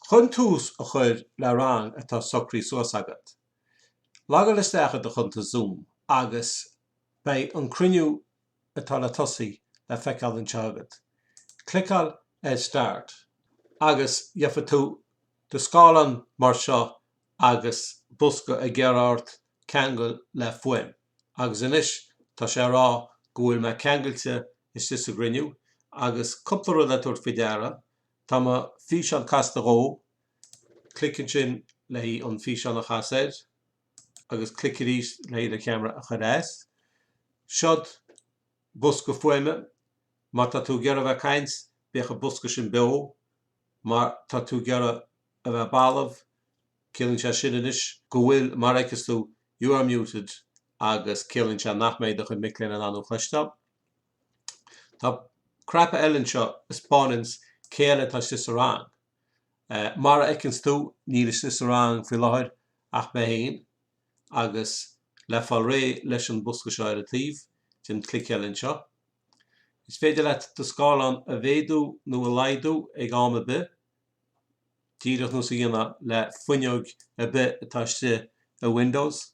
Chun tús a chur le rang atá socraithe suas agat, logáil isteach i do chuntas Zoom agus beidh an cruinniú atá le tosaí le feiceáil anseo agat. Cliceáil ar Start agus gheobhaidh tú do scáileán mar seo agus bosca ag iarraidh ort ceangal le fuaim agus anois tá sé ag rá go bhfuil mé ceangailte istigh sa gcruinniú agus cúpla rud le tabhairt faoi deara Tá mo físeán casta dhom. Clic ansin le haghaidh an físeán a chasadh air agus clic arís le haghaidh do cheamara a chur as. Seod bosca fuaime. Má tá tú ag iarraidh a bheith caint, bíodh an bosca sin beo. Má tá tú ag iarraidh a bheith balbh, ciallaíonn sé sin anois go bhfuil mar fheiceas tú You are muted agus ciallaíonn sé nach mbeidh do chuid mic léinn in ann thú a chloisteáil. Tá cnaipe eile anseo a 'speánanns cé eile atá istigh sa rang. Mar a fheiceanns tú níl istigh sa rang faoi láthair ach mé féin agus le fáil réidh leis an bosca seo ar an taobh, déan clic eile anseo. Is féidir leat do scáileán a mhéadú nó a laghdú ag am ar bith, díreach nós a dhéanfá le fuinneog ar bith atá istigh i Windows.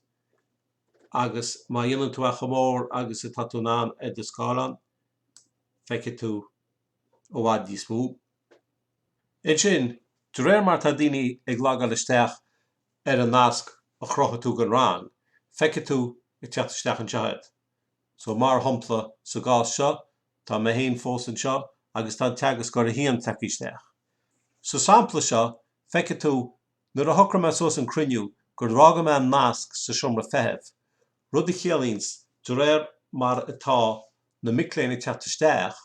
agus má dhéanann tú é chomh mór agus atá tú in ann ar do scáileán, feicfidh tú i bhfad níos mó. Ansin, de réir mar atá daoine ag logáil isteach ar an nasc a chruthaigh tú don rang, feicfidh tú ag teacht isteach anseo iad. So, mar shompla, sa gcás seo, tá mé féin fós anseo agus tá an teagascóir 1 tagtha isteach. Sa sampla seo, feicfidh tú Nuair a shocraigh mé suas an cruinniú gur fhága mé an nasc sa seomra feithimh, rud a chiallaíonns de réir mar atá na mic léinn ag teacht isteach,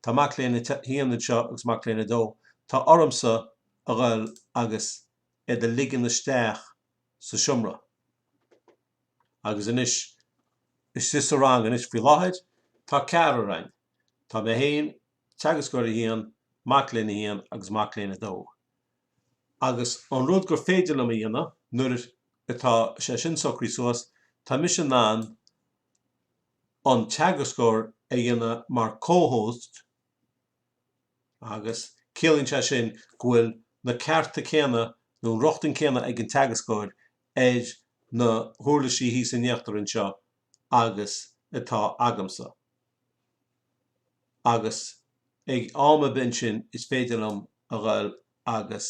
tá mac léinn a haon anseo agus mac léinn a dó, tá ormsa a dhul agus iad a ligean isteach sa seomra. Agus anois, istigh sa rang anois faoi láthair, tá ceathrar againn, tá mé féin, teagascóir a haon, mac léinn a haon agus mac léinn a dó. agus an rud gur féidir liom a dhéanamh nuair atá sé sin socraithe suas, tá mise in ann an teagascóir a dhéanamh mar co-host agus ciallaíonn sé sin go bhfuil na cearta céanna nó an rochtain céanna ag an teagascóir ar na huirlisí thíos in íochtar anseo agus atá agamsa. agus ag am a bith ansin is féidir liom a dhul agus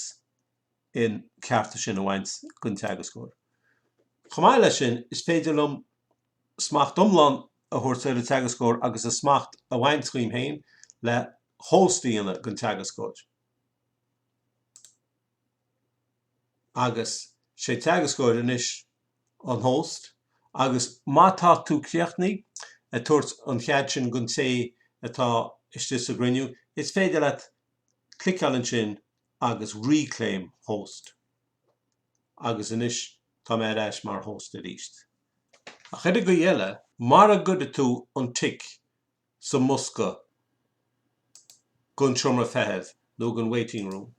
an cearta sin a bhaint den teagascóir. Chomh maith leis sin, is féidir liom smacht iomlán a thabhairt ar an teagascóir agus an smacht a bhaint dhíom féin le host a dhéanamh den teagascóir. agus sé an teagascóir anois an host agus má tá tú críochnaithe ag tabhairt an chead sin gon té atá istigh sa gcruinniú is féidir leat cliceáil ansin agus reclaim host agus anois tá mé ar ais mar host arís ach ar an gcaoi eile mara gcuire tú an tic sa mbosca don seomra feithimh nó don waiting room.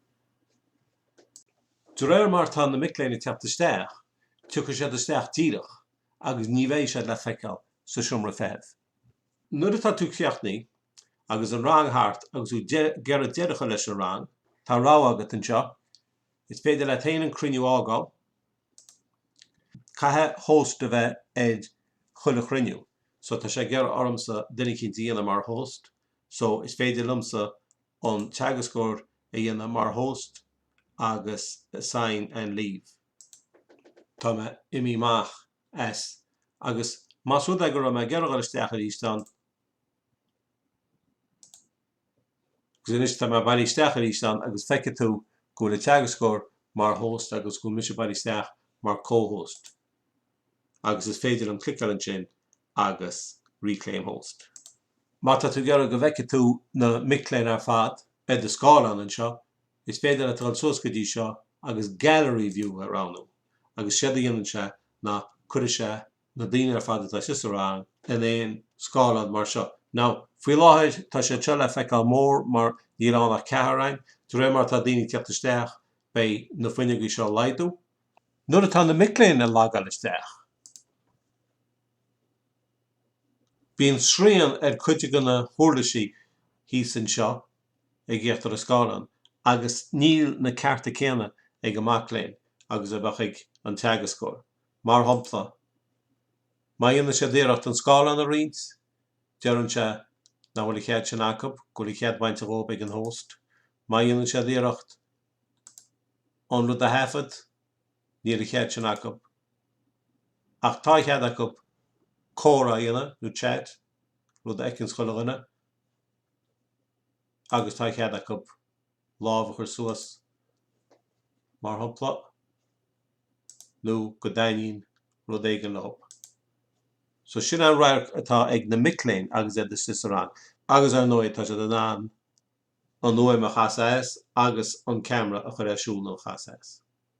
De réir mar atá na mic léinn ag teacht isteach, tiocfaidh siad isteach díreach agus ní bheidh siad le feiceáil sa seomra feithimh. Nuair atá tú críochnaithe agus an rang thart agus tú ag iarraidh deireadh a chur leis an rang, tá rogha agat anseo, is féidir leat féin an cruinniú a fhágáil, Caithfidh host a bheith ag chuile chruinniú so tá sé ag iarraidh ormsa duine eicínt a dhéanamh mar host so is féidir liomsa an teagascóir a dhéanamh mar host agus assign and leave. Tá mé imithe amach as agus más rud é go raibh mé ag iarraidh dul isteach aríst ann, Agus anois tá mé bailithe isteach arís ann agus feicfidh tú go bhfuil an teagascóir mar host agus go bhfuil mise bailithe isteach mar co-host agus is féidir liom cliceáil ansin agus reclaim host. Má tá tú ag iarraidh go bhfeicfidh tú na mic léinn ar fad ar do scáileán anseo, is féidir leat dul suas go dtí seo agus gallery view a roghnú agus séard a dhéanann sé ná cuireann sé na daoine ar fad atá istigh sa rang in aon scáileán mar seo. Now, faoi láthair tá siad seo le feiceáil mór mar níl ann ach ceathrar againn. De réir mar atá daoine ag teacht isteach beidh na fuinneogaí seo ag laghdú. Nuair atá na mic léinn ag logáil isteach bíonn srian ar chuid de na huirlisí thíos anseo ag íochtar an scáileán agus níl na cearta céanna ag an mac léinn agus a bheadh ag an teagascóir. Mar shampla, má dhéanann siad iarracht an scáileán a roinnt, deireann sé nach bhfuil an chead sin acu, go bhfuil an chead bainte dhóibh ag an host. Má dhéanann siad iarracht an rud a thaifead, níl an chead sin acu. Ach tá a chead acu comhrá a dhéanamh nó chat, rud a fheiceanns chuile dhuine, agus tá a chead acu lámh a chur suas, mar shampla, nó go dtaitníonn rud éigin leo. So sin an radharc atá ag na mic léinn agus iad istigh sa rang. Agus ar ndóigh, tá siad in ann an fhuaim a chasadh as agus an ceamara a chur ar siúl nó a chasadh as.